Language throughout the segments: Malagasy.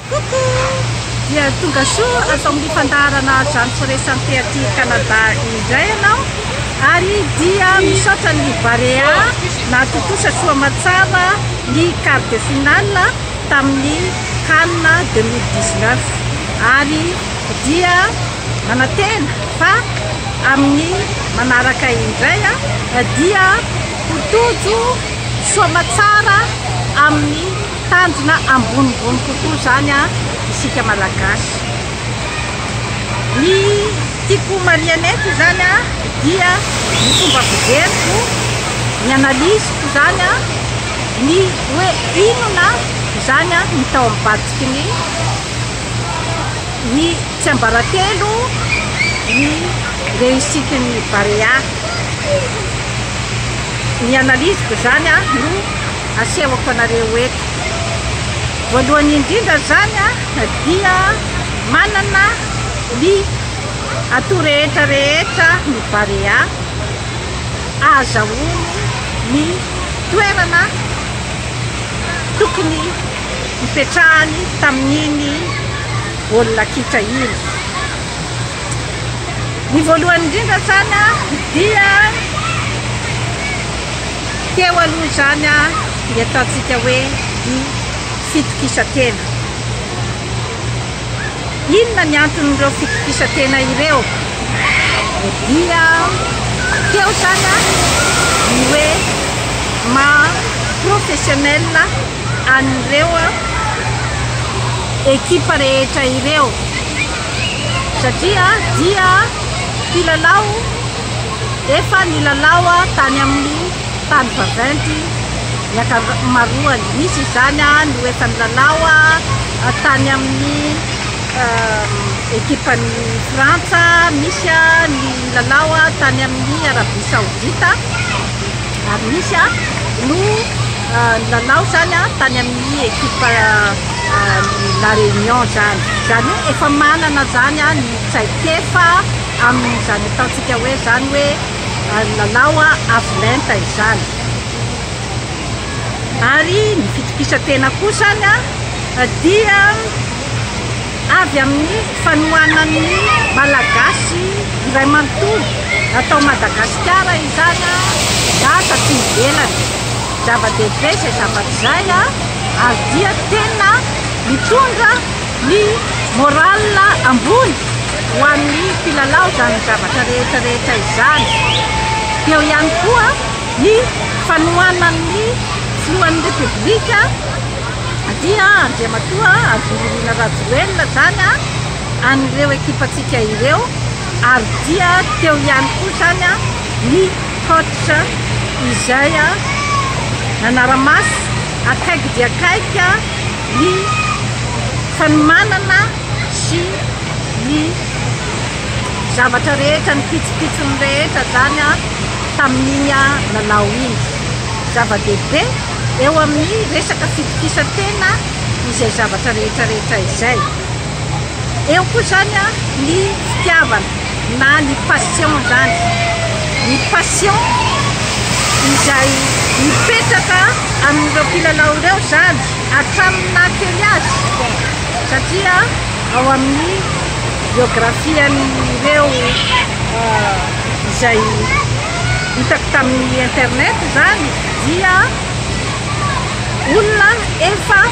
Coucou! Dia tonga soa ato amin'ny fandaharana Zantso Resanté aty Canada indray ianao ary dia misaotra ny Barea nahatontosa soa aman-tsara ny quart de finale tamin'ny CAN 2019 ary dia manantena fa amin'ny manaraka indray dia ho tojo soa aman-tsara amin'ny Tanjona ambonimbony kokoa izany an isika malagasy. Ny tiako ho marihana eto izany an dia ny fomba fijeriko, ny analyse-ko izany an, ny hoe inona izany an ny tao am-batsiky ny ny tsiambaratelo ny réussite ny Barea. Ny analyse-ko izany an no. Asehoko anareo eto. Voalohany indrindra izany dia manana ny atout rehetra rehetra ny Barea ahazahoany ny toerana tokony hipetrahany tamin'iny baolina kitra iny. Ny voalohany indrindra zany dia teo aloha zany ny ataontsika hoe ny fitokisantena. Inona ny anton'ireo fitokisantena ireo? Dia teo zany ny hoe maha professionnel an'ireo ekipa rehetra ireo. satria dia mpilalao efa nilalao tany amin'ny tany vaventy ny ankamaroany. Misy izany no efa nilalao tany amin'ny ekipan'ny Frantsa, misy ny nilalao tany amin'ny Arabia Saodita, ary misy no nilalao izany tany amin'ny ekipa. ny La Réunion izany. Izany hoe efa manana izany ny traikefa amin'izany ataontsika hoe izany hoe lalao avo lenta izany. Ary ny fitokisantena koa izany dia avy amin'ny fanohanan'ny Malagasy iray manontolo, na tao Madagasikara izany na taty ivelany. Zava-dehibe izay zavatra izay ary dia tena mitondra ny morale ambony ho an'ny mpilalao izany zavatra rehetra rehetra izany. Dia eo ihany koa ny fanohanan'ny filohan'ny Repoblika dia Andriamatoa Andriamorina Rajoelina izany an'ireo ekipantsika ireo ary dia teo ihany koa izany ny Fototra izay nanara-maso akaiky dia akaiky ny fanomanana sy ny zavatra rehetra, ny pitsopitsony rehetra izany tamin'iny lalao iny. Zava-dehibe eo amin'ny resaka fitokisan-tena izay zavatra rehetra rehetra izay. Eo koa izany ny fitiavana. na ny passion zany, ny passion izay mipetraka amin'ireo mpilalao ireo zany hatramin'ny naha kely azy satria ao amin'ny biographian'ireo izay hitako tamin'ny internet zany dia olona efa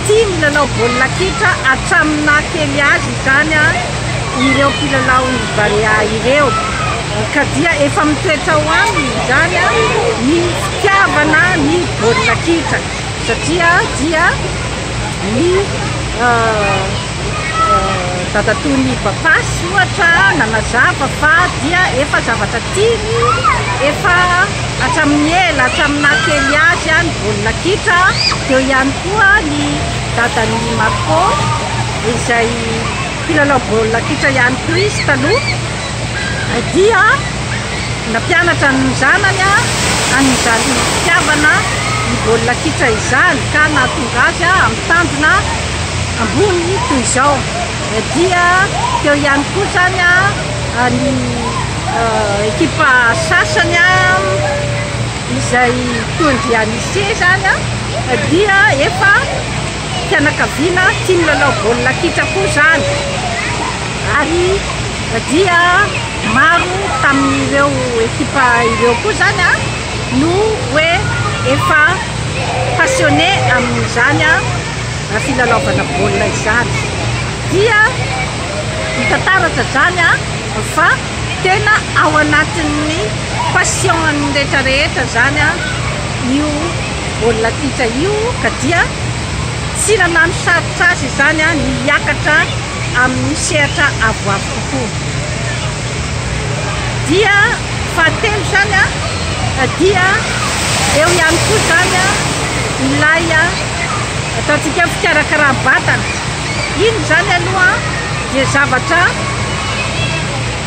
Tia milalao baolina kitra hatramin'ny naha kely azy izany ireo mpilalaon'ny Barea ireo. Ka dia efa mitoetra ao aminy izany ny fitiavana ny baolina kitra satria dia ny dadatoa ny Bapasy ohatra nanazava fa dia efa zavatra tiany efa hatramin'ny ela hatramin'ny naha-kely azy ny baolina kitra dia ihany koa ny dadan'i Marco izay mpilalao baolina kitra ihany koa izy taloha Heidi a, nampianatra ny zanany an'izany fitiavana ny baolina kitra izany ka nahatonga azy amin'ny tanjona ambony toy izao. Heidi a, teo ihany koa izany ny ekipa sasany izay toa ndry an'ise izany dia efa Fianakaviana tia milalao baolina kitra koa izany ary dia maro tamin'ireo ekipa ireo koa izany no hoe efa passionné amin'izany filalaovana baolina izany. Dia hita taratra izany fa tena ao anatin'ny passion-ny rehetra rehetra izany io. Baolina kitra io ka dia tsy nanano sarotra azy izany ny hiakatra amin'ny sehatra avoavo kokoa. Dia fahatelo izany dia eo ihany koa izany ilay ataontsika hoe fikarakaram-batana. Iny izany aloha dia zavatra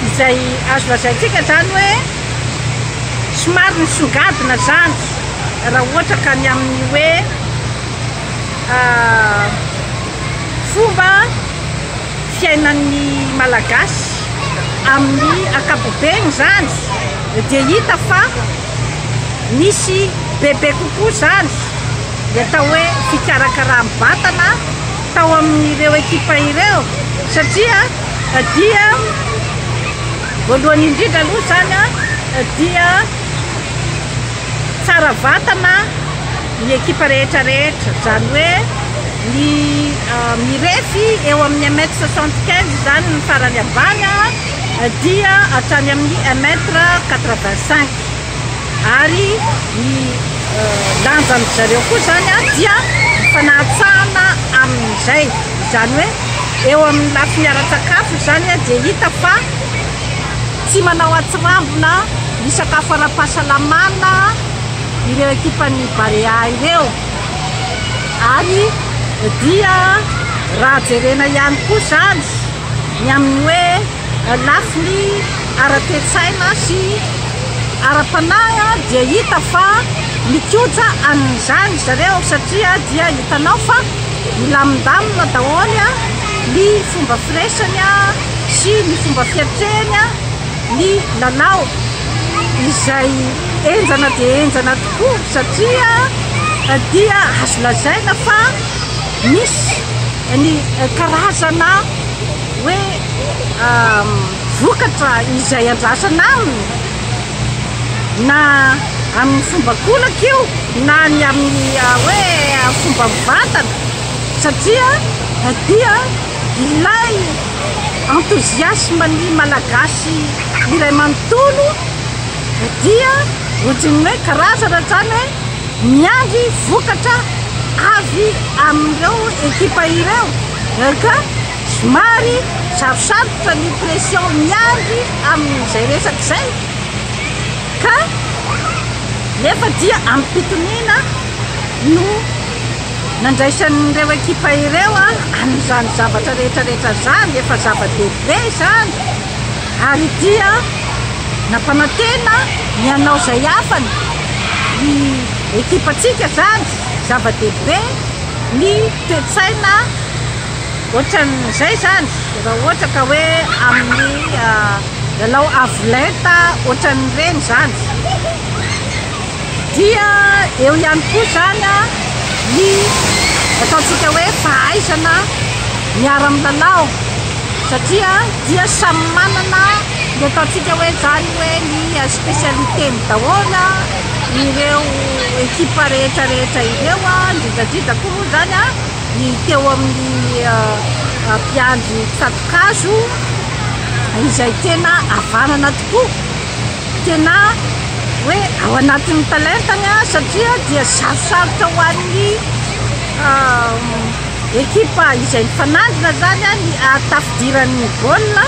izay azo lazaintsika izany hoe somary nisongadina izany. Raha ohatra ka ny amin'ny hoe fomba fiainan'ny Malagasy amin'ny ankapobeny izany dia hita fa misy bebe kokoa izany ny atao hoe fikarakaram-batana tao amin'ireo ekipa ireo satria dia voalohany indrindra aloha izany dia Tsara vatana ny ekipa rehetra rehetra, izany hoe ny mirefy eo amin'ny un mètre soixante quinze izany ny farany ambany dia hatrany amin'ny un mètre quatre vingt cinq ary ny lanjan-dry zareo koa izany dia mifanahantsahana amin'izay, izany hoe eo amin'ny lafiny ara-tsakafo izany dia hita fa tsy manao atsirambina ny sakafo ara-pahasalamana ireo ekipan'ny Barea ireo ary dia raha jerena ihany koa izany ny amin'ny hoe lafiny ara-toe-tsaina sy ara-panahy dia hita fa mikoja an'izany zareo satria dia hitanao fa milamindamina daholo ny fomba firesany sy ny fomba fiatrehany ny lalao izay henjana dia henjana tokoa satria dia azo lazaina fa misy ny karazana hoe vokatra izay andrasana aminy na amin'ny fomba kolaka io na ny amin'ny ah, hoe ah, fomba mivantana satria dia Ilay enthousiasme ny Malagasy iray manontolo dia ohatran'ny hoe karazana izany hoe miandry vokatra avy amin'ireo ekipa ireo ka somary sarosarotra ny pression miandry amin'izay resaka izay ka nefa dia amim-pitoniana no Nandraisan'ireo ekipa ireo an'izany zavatra rehetrarehetra izany, efa zava-dehibe izany, ary dia nampanantena ny hanao izay hafany ny ekipantsika izany, zava-dehibe ny toe-tsaina ohatran'izay izany, raha ohatra ka hoe amin'ny lalao avo lenta ohatran'ireny izany. Dia eo ihany koa izany ny ataontsika hoe fahaizana miara-milalao satria dia samy manana ny ataontsika hoe izany hoe ny spécialité-ny daholo ireo équipe rehetrarehetra ireo, indrindradrindra koa moa izany ny teo amin'ny mpiandry tsato-kazo izay tena havanana tokoa. Tena hoe ao anatin'ny talentany an, satria dia sarosarotra ho an'ny ekipa izay mifanandrina zany an ny tafidiran'ny baolina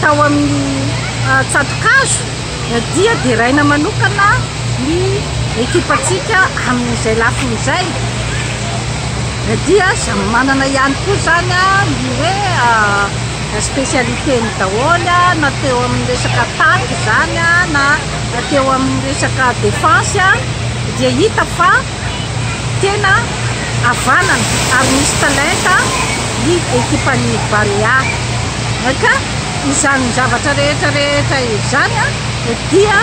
tao amin'ny tsatokazo dia deraina manokana ny ekipantsika amin'izay lafiny izay dia samy manana ihany koa zany an ny hoe Spécialité-ny daholo na teo amin'ny resaka attaque izany na teo amin'ny resaka défense dia hita fa tena havanana ary misy talenta ny ekipan'ny Barea. Ka izany zavatra rehetra rehetra izany dia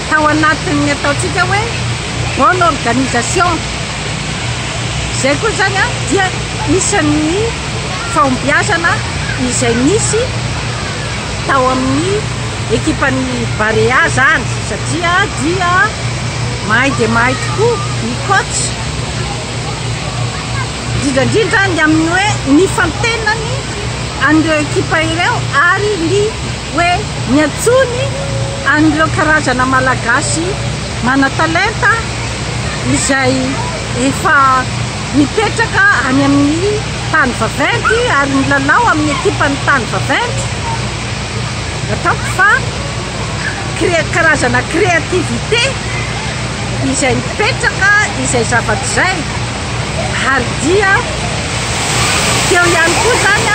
tao anatin'ny ataontsika hoe bonne organisation. Izay koa izany dia isan'ny fahombiazana izay nisy tao amin'ny ekipan'ny Barea izany satria dia mahay dia mahay tokoa ny coach, indrindra indrindra ny amin'ny hoe ny fantenany an'ireo ekipa ireo ary ny Hoe niantsoany an'ireo karazana Malagasy manan-talenta izay efa mipetraka any amin'ny tany vaventy ary milalao amin'ny ekipan'ny tany vaventy. Ataoko fa cré- karazana créativité izay mipetraka izay zavatra izay. Ary dia teo ihany koa izany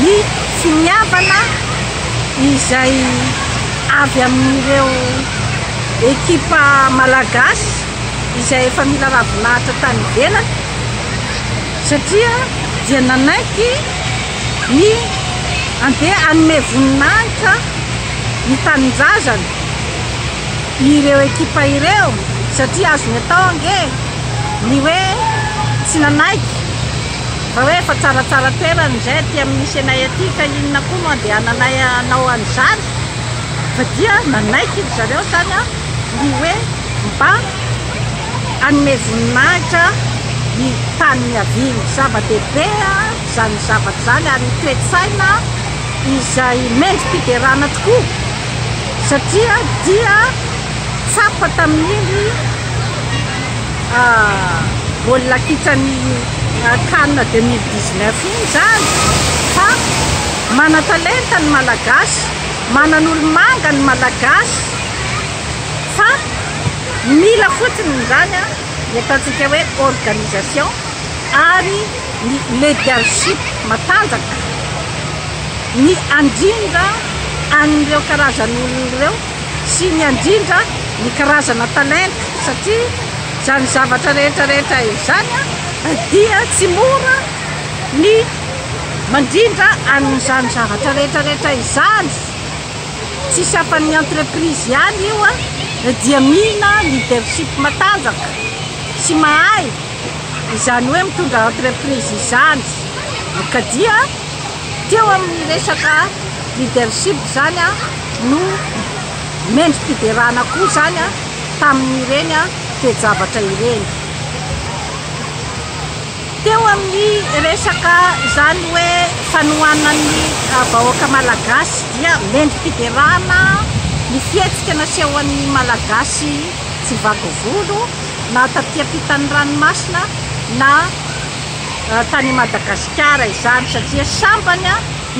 ny Tsy mihavana izay avy amin'ireo ekipa malagasy izay efa mila ravinahitra tany ivelany satria dia nanaiky ny andeha hanome voninahitra ny tanindrazany ireo ekipa ireo satria azony atao ange ny hoe tsy nanaiky Raha hoe efa tsaratsara toerana izay aty amin'ny misy anay aty ka inona koa no andehananay hanao an'izany? Fa dia nanaiky ry zareo izany ny hoe mba hanome voninahitra ny tany niaviany. Zava-dehibe izany zavatra izany ary ny toe-tsaina izay mendri-piderana tokoa satria dia tsapa tamin'iny. baolina kitsan'ny can 2019 iny izany fa manan-talenta ny Malagasy, manan'olo-manga ny Malagasy fa mila fotsiny izany ny ataontsika hoe organisation ary ny leadership matanjaka ny handrindra an'ireo karazan'olona ireo. sy ny handrindra ny karazana talenta satria izany zavatra rehetra rehetra izany dia tsy mora ny mandrindra an'izany zavatra rehetra rehetra izany tsy safan'ny entreprise ihany io a dia mila leadership matanjaka sy mahay izany hoe mitondra entreprise izany ka dia Teo amin'ny resaka leadership izany no mendri-piderana koa izany tamin'ireny toe-javatra ireny. Teo amin'ny resaka izany hoe fanohanan'ny vahoaka malagasy dia mendri-piderana ny fihetsika nasehon'ny Malagasy tsy vaky volo na taty ampitan'ny ranomasina na tany Madagasikara izany satria sambany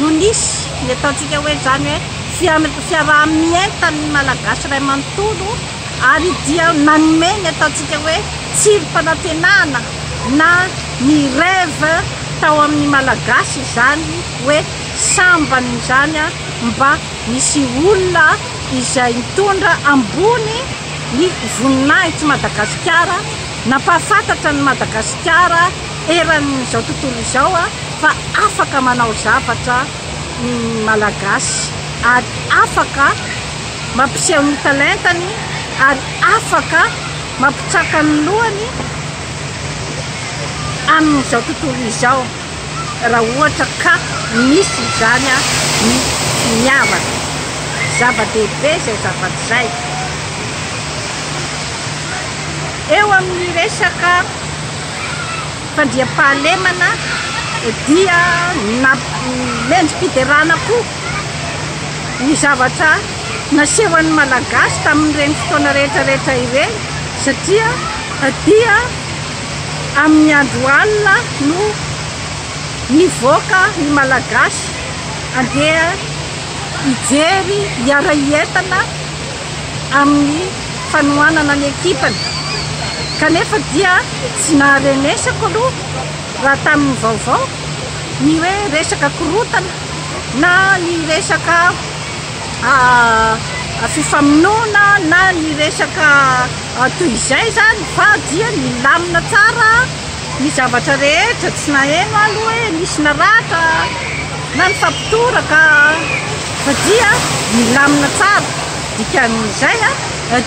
no nisy ny ataontsika hoe izany hoe fiam- fiaraha-mientan'ny Malagasy iray manontolo ary dia nanome ny ataontsika hoe tsirim-panantenana na ny rêve tao amin'ny Malagasy izany hoe sambany izany mba misy olona izay mitondra ambony ny voninahitry Madagasikara Nampahafantatra an'i Madagasikara eran'izao tontolo izao fa afaka manao zavatra ny Malagasy ary afaka mampiseho ny talentany ary afaka mampitsaka ny lohany amin'izao tontolo izao. raha ohatra ka misy izany ny finiavana. Zava-dehibe izay zavatra izay. Eo amin'ny resaka fandriampahalemana dia namendri-piderana koa ny zavatra nasehon'ny Malagasy tamin'ireny fotoana rehetrarehetra ireny satria dia Amin'ny andro alina no nivoaka ny Malagasy handeha hijery, hiara-hientana amin'ny fanohanana ny ekipany, kanefa dia tsy naharenesako aloha raha tamin'ny vaovao ny hoe resaka korontana na ny resaka fifamonoana na ny resaka. Toy izay izany fa dia nilamina tsara ny zavatra rehetra, tsy naheno aho aloha hoe nisy naratra na nifampitoraka fa dia nilamina tsara, dikan'izay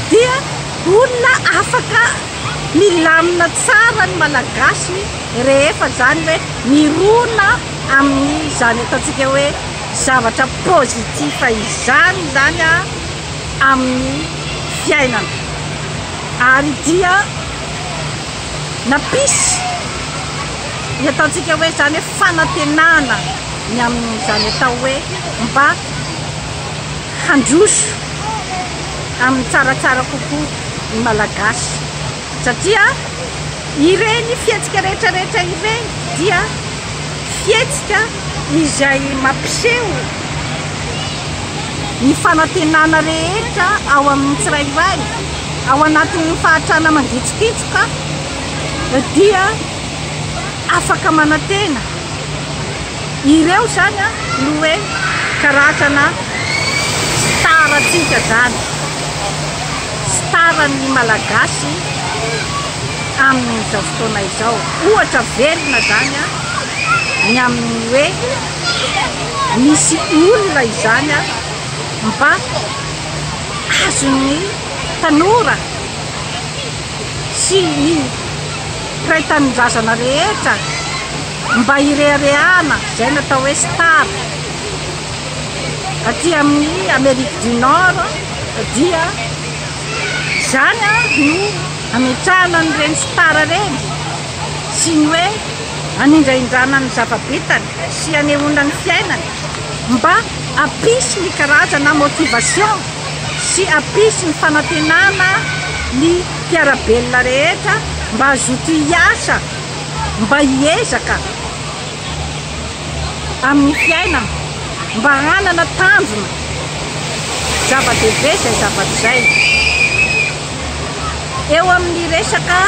dia olona afaka milamina tsara ny Malagasy rehefa izany hoe mirona amin'izany ataontsika hoe zavatra positif izany izany. amin'ny fiainana ary dia nampisy ny ataontsika hoe izany hoe fanantenana ny amin'izany atao hoe mba handroso amin'ny tsaratsara kokoa ny Malagasy satria ireny fihetsika rehetra rehetra ireny dia fihetsika izay mampiseho ny fanantenana rehetra ao amin'ny tsirairay ao anatin'ny fahatrana mangitsokitsoka dia afaka manantena ireo zany no hoe karazana starantsika zany staran'ny malagasy amin'izao fotoana izao ohatra velona zany ny amin'ny hoe misy olona izany ary mba azon'ny tanora sy ny mpiray tanindrazana rehetra mba hireharehana izay natao hoe star aty amin'ny Amérique du Nord dia izany no ametrahana an'ireny star ireny sy ny hoe hanindrahindrana ny zava-bitany sy hanehoana ny fiainany mba hampisy ny karazana motivation sy hampisy ny fanantenana ny mpiara-belona rehetra mba hazoto hiasa mba hiezaka amin'ny fiainana mba hanana tanjona zava-dehibe izay zavatra izay eo amin'ny resaka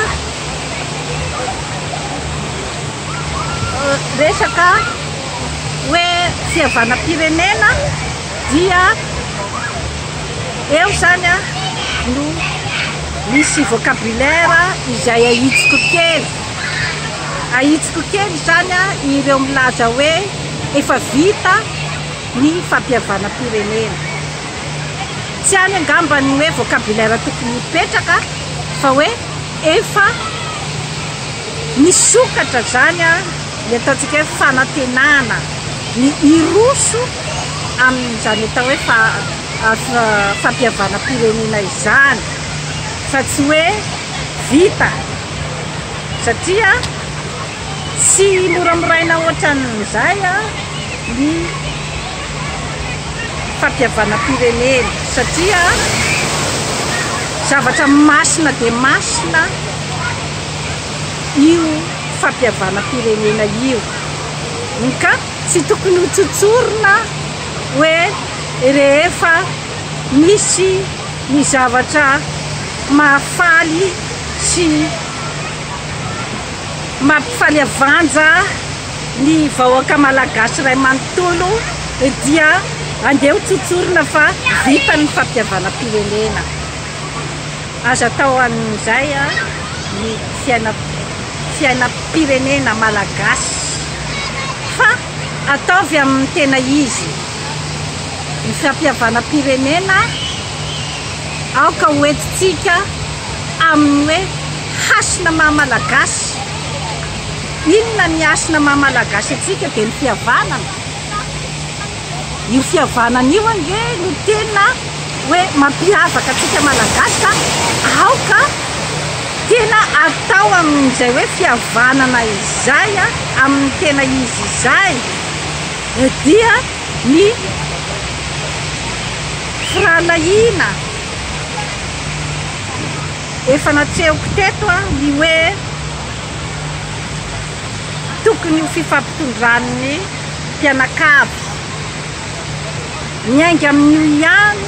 resaka hoe fihavanam-pirenena dia eo zany a no misy vocabulaire izay ahitsiko kely ahitsiko kely zany a ireo milaza hoe efa vita ny fampihavanam-pirenena tsy any angamba ny hoe vocabulaire tokony hipetraka fa hoe Efa misokatra izany ny ataontsika hoe fanantenana ny hiroso amin'izany atao hoe fampihavanam-pirenena izany fa tsy hoe vita satria tsy moramoraina ohatran'izay ny fampihavanam-pirenena satria zavatra masina dia masina io fampihavanam-pirenena io ka tsy tokony ho tsotsorina hoe rehefa misy ny zavatra mahafaly sy mampifaly avanja Ny vahoaka malagasy iray manontolo dia andeha ho tsotsorina fa vita ny fampihavanam-pirenena. Aza atao an'izay ny fiainam-pirenena malagasy fa ataovy amin'ny tena izy. Ny fampihavanam-pirenena aoka ho entintsika amin'ny hoe hasina maha malagasy. Inona ny hasina maha Malagasy antsika dia ny fihavanana. Io fihavanana io ange no tena hoe mampiavaka antsika Malagasy ka aoka tena atao amin'izay hoe fihavanana izay amin'ny tena izy izay dia ny firahalahiana. Efa natsehoko teto ny hoe tokony ho fifampitondran'ny mpianakavy. Miainga amin'io ihany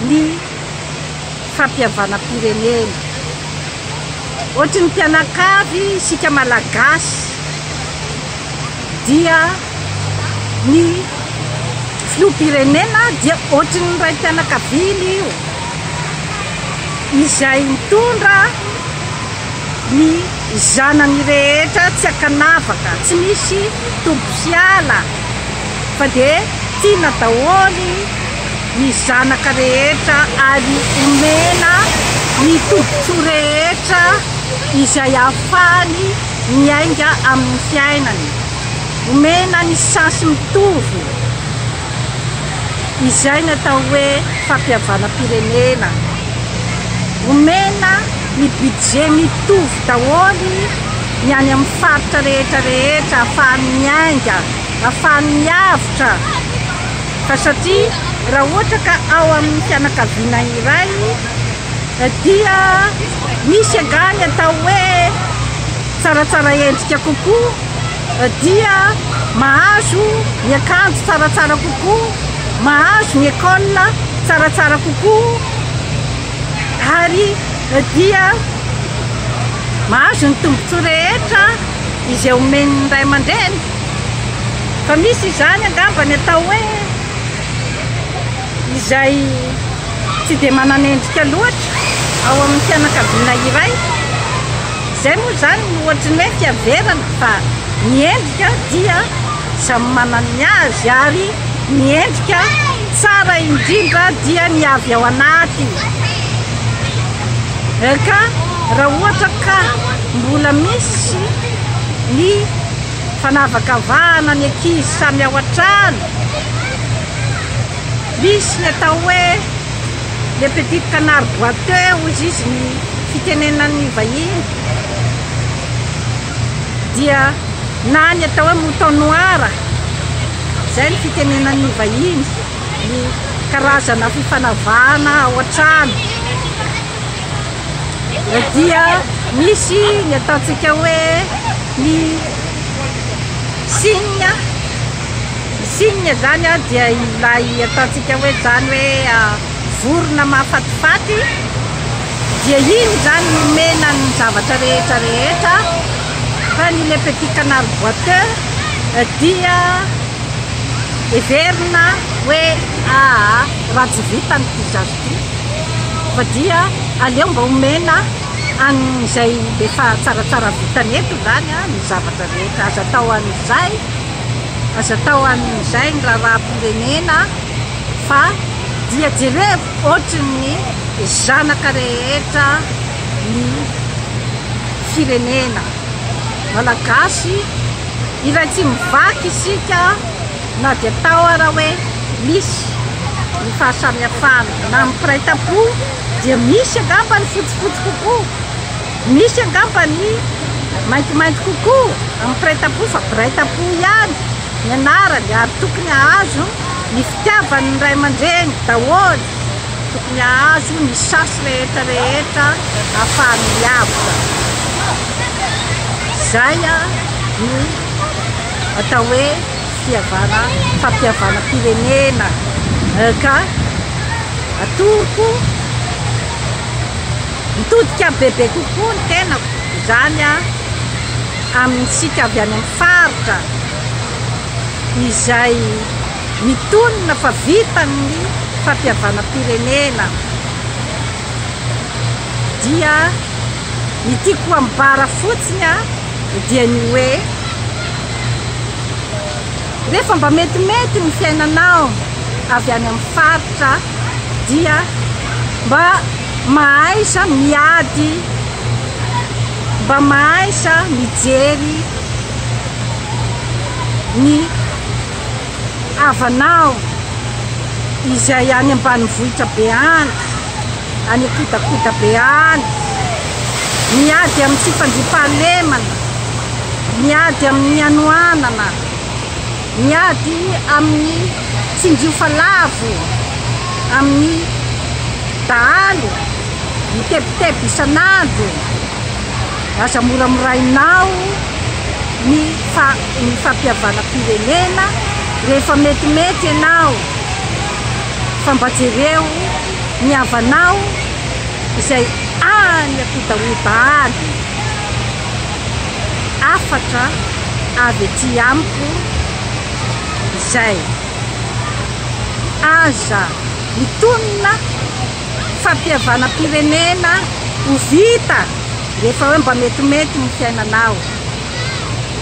ny fampihavanam-pirenena. Ohatry ny mpianakavy isika Malagasy. dia ny filoham-pirenena dia ohatry ny raim-pianakaviany io izay mitondra ny zanany rehetra tsy ankanavaka, tsy misy tombo sy ala fa dia tiana daholo ny zanaka rehetra ary omena ny tombontsoa rehetra izay ahafahany miainga amin'ny fiainany, omena ny chance mitovy izay ny atao hoe fampihavanam-pirenena, omena ny budget mitovy daholo ny any amin'ny faritra rehetra rehetra ahafahany miainga, ahafahany miavotra fa satria raha ohatra ka ao amin'ny fianakaviana iray Dia misy angaha ny atao hoe tsaratsara endrika kokoa? Dia mahazo miakanjo tsaratsara kokoa? Mahazo ny école tsaratsara kokoa? Ary dia mahazo ny tombontsoa rehetra izay omen'ny ray aman-dreny? Fa misy izany angamba ny atao hoe. izay tsy dia manan'endrika loatra ao amin'ny fianakaviana iray, izay moa izany no ohatry ny hoe fiaverana fa ny endrika dia samy manana ny azy ary ny endrika tsara indrindra dia ny avy ao anaty eh, ka raha ohatra ka mbola misy ny fanavakavahana ny ankizy samy ao an-trano Misy ny atao hoe le petit canard boiteux hozy izy ny fitenenan'ny vahiny dia na ny atao hoe mouton noir izay ny fitenenan'ny vahiny ny karazana fifanavahana ao an-trano dia misy ny ataontsika hoe ny signe Signe zany a dia ilay ataontsika hoe zany hoe vorona mahafatifaty dia iny zany nomena ny zavatra rehetra rehetra fa ny le petit canard boiteux dia heverina hoe aa raha tsy vita ny pizza ty fa dia aleo mba omena an'izay efa tsaratsara vitany eto zany a ny zavatra rehetra aza atao an'izay Aza atao amin'izay ny raharaham-pirenena fa dia jerevo ohatrin'ny zanaka rehetra ny firenena malagasy iray tsy mivaky isika na dia atao ara hoe misy ny fahasamihafana na amin'ny mpiray tampo dia misy angamba ny fotsifotsy kokoa Misy angamba ny maintimainty kokoa amin'ny mpiray tampo fa mpiray tampo ihany ny anarany ary tokony hahazo ny fitiavan'ny ray aman-dreny daholo, tokony hahazo ny chance rehetra rehetra ahafahany miavotra. Izay no atao hoe fihavana fampihavanam-pirenena ka atoroko. Mitodika bebe kokoa ny tenako, izany amintsika avy any amin'ny faritra izay mitonona fa vitan'ny fampihavanam-pirenena dia ny tiako ambara fotsiny dia ny hoe rehefa mba metimety ny fiainanao avy any amin'ny faritra dia mba Mahaiza miady mba mahaiza mijery ny havanao izay any ambanivohitra be any, any an-kodakoda be any, miady amin'ny tsy fandriampahalemana, miady amin'ny hanoanana. Miady amin'ny tsinjiofa lavo amin'ny dahalo mitebiteby isan'andro, aza moramorainao ny ny fampihavanam-pirenena rehefa metimety ianao fa mba jereo ny havanao izay any am-pidahodahana. hafatra avy ety amiko izay. Aza mitonona fampihavanam-pirenena ho vita rehefa hoe mba metimety ny fiainanao.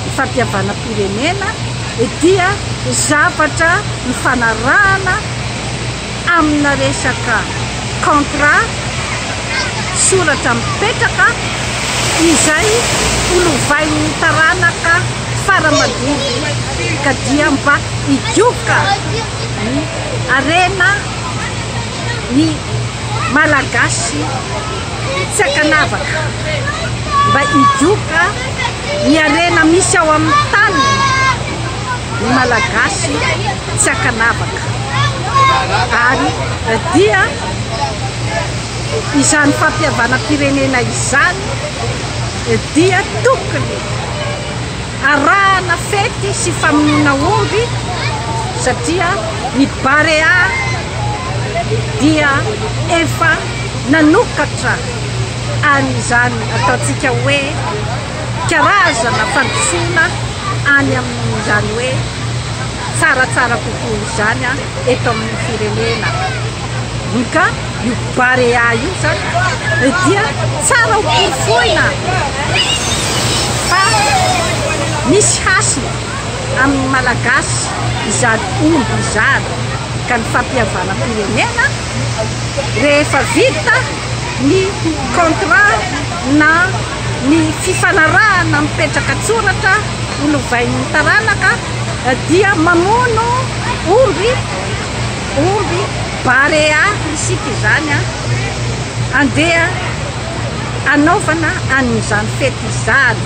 Ny fampihavanam-pirenena dia zavatra nifanarahana. amina resaka contrat, soratra mipetraka, izay ho lovain'ny taranaka fara mandimby ka dia mba higioka ny harena ny Malagasy tsy ankanavaka, mba higioka ny harena misy ao amin'ny taniny ny Malagasy. tsy ankanavaka ary dia izany fampihavanam-pirenena izany dia tokony arahana fety sy famonoana omby satria ny barea dia efa nanokatra an'izany ataontsika hoe karazana fandrosoana any amin'izany hoe tsaratsara kokoa izany eto amin'ny firenena. Ny ka io barea io zany dia tsara ho porofoina fa misy hasina amin'ny malagasy izany omby izany ka ny fampihavanam-pirenena rehefa vita ny contrat na Ny fifanarahana mipetraka an-tsoratra ho lovain'ny taranaka dia mamono omby, omby barea isika izany, andeha hanaovana an'izany fety izany.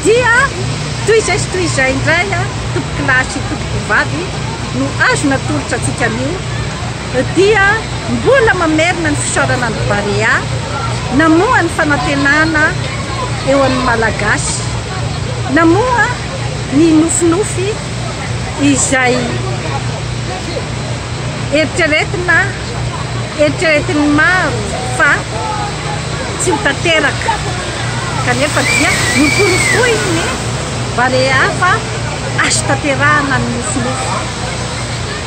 Dia toy izay sy toy izay indray, tompokolahy sy tompokovavy no azo natolotra antsika anio. dia mbola mamerina ny fisaorana ny Barea namoha ny fanantenana eo amin'ny Malagasy, namoha ny nofinofy izay eritreretina eritreretin'ny maro fa tsy ho tanteraka kanefa dia noporofoin'ny Barea fa azo tanterahana ny nofinofy.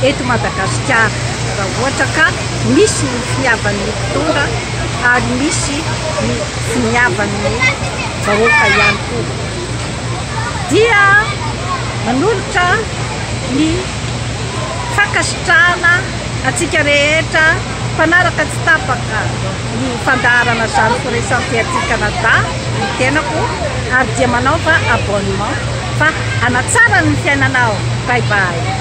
eto Madagasikara raha ohatra ka misy ny finiavan'ny mpitondra ary misy ny finiavan'ny vahoaka ihany koa dia manolotra ny fankasitrahana antsika rehetra mpanaraka tsy tapaka ny fandaharana zany firaisam-piaty Canada ny tenako ary dia manaova abonnement Fa hanatsara ny fiainanao. Bye bye.